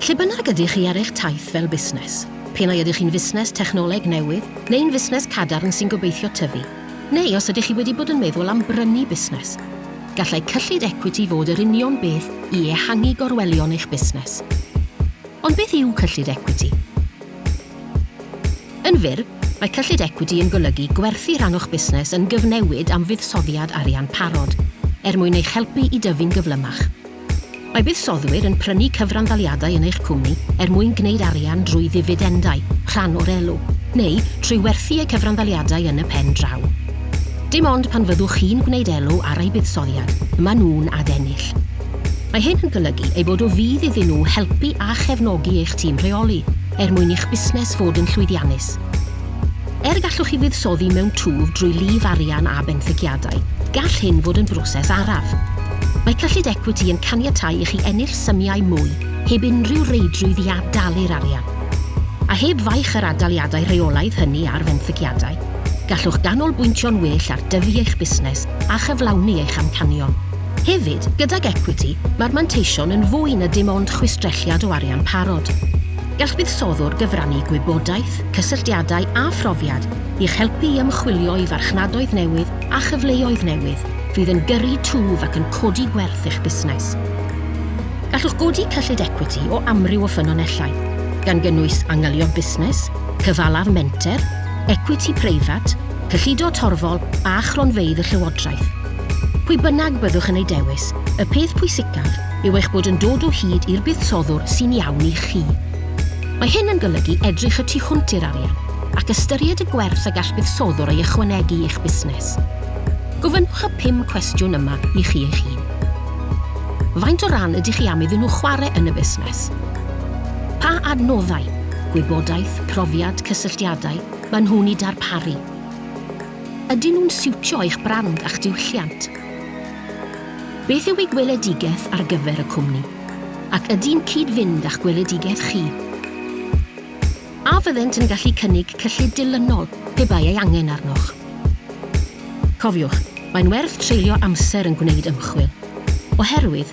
Lle bynnag ydych chi ar eich taith fel busnes, pe nai ydych chi'n fusnes technoleg newydd neu'n fusnes cadarn sy'n gobeithio tyfu, neu os ydych chi wedi bod yn meddwl am brynu busnes, gallai cyllid ecwiti fod yr union beth i ehangu gorwelion eich busnes. Ond beth yw cyllid ecwiti? Yn fyr, mae cyllid ecwiti yn golygu gwerthu rhan o'ch busnes yn gyfnewid am fuddsoddiad arian parod, er mwyn eich helpu i dyfu'n gyflymach. Mae buddsoddwyr yn prynu cyfranddaliadau yn eich cwmni er mwyn gwneud arian drwy ddifidendau, rhan o'r elw, neu trwy werthu eu cyfranddaliadau yn y pen draw. Dim ond pan fyddwch chi'n gwneud elw ar eu buddsoddiad y maen nhw'n adennill. Mae hyn yn golygu eu bod o fudd iddyn nhw helpu a chefnogi eich tîm rheoli, er mwyn i'ch busnes fod yn llwyddiannus. Er gallwch chi fuddsoddi mewn twf drwy lif arian a benthyciadau, gall hyn fod yn broses araf. Mae cyllid ecwiti yn caniatáu i chi ennill symiau mwy heb unrhyw reidrwydd i ad-dalu'r arian. A heb faich yr ad-daliadau rheolaidd hynny ar fenthyciadau, gallwch ganolbwyntio'n well ar dyfu eich busnes a chyflawni eich amcanion. Hefyd, gydag ecwiti, mae'r manteision yn fwy na dim ond chwistrelliad o arian parod. Gall buddsoddwr gyfrannu gwybodaeth, cysylltiadau a phrofiad i'ch helpu i ymchwilio i farchnadoedd newydd a chyfleoedd newydd fydd yn gyrru twf ac yn codi gwerth eich busnes. Gallwch godi cyllid ecwiti o amryw o ffynonellau, gan gynnwys angylion busnes, cyfalaf menter, ecwiti preifat, cyllido torfol a chronfeydd y llywodraeth. Pwy bynnag byddwch yn ei dewis, y peth pwysicaf yw eich bod yn dod o hyd i'r buddsoddwr sy'n iawn i chi. Mae hyn yn golygu edrych y tu hwnt i'r arian ac ystyried y gwerth y gall buddsoddwr ei ychwanegu i'ch busnes. Gofynnwch y pum cwestiwn yma i chi eich hun. Faint o ran ydych chi am iddyn nhw chwarae yn y busnes? Pa adnoddau, gwybodaeth, profiad, cysylltiadau, maen nhw'n eu darparu? Ydyn nhw'n siwtio eich brand a'ch diwylliant? Beth yw ei gweledigaeth ar gyfer y cwmni, ac ydy'n cyd-fynd â'ch gweledigaeth chi? A fyddent yn gallu cynnig cyllid dilynol pe bai ei angen arnoch? Cofiwch, mae'n werth treulio amser yn gwneud ymchwil, oherwydd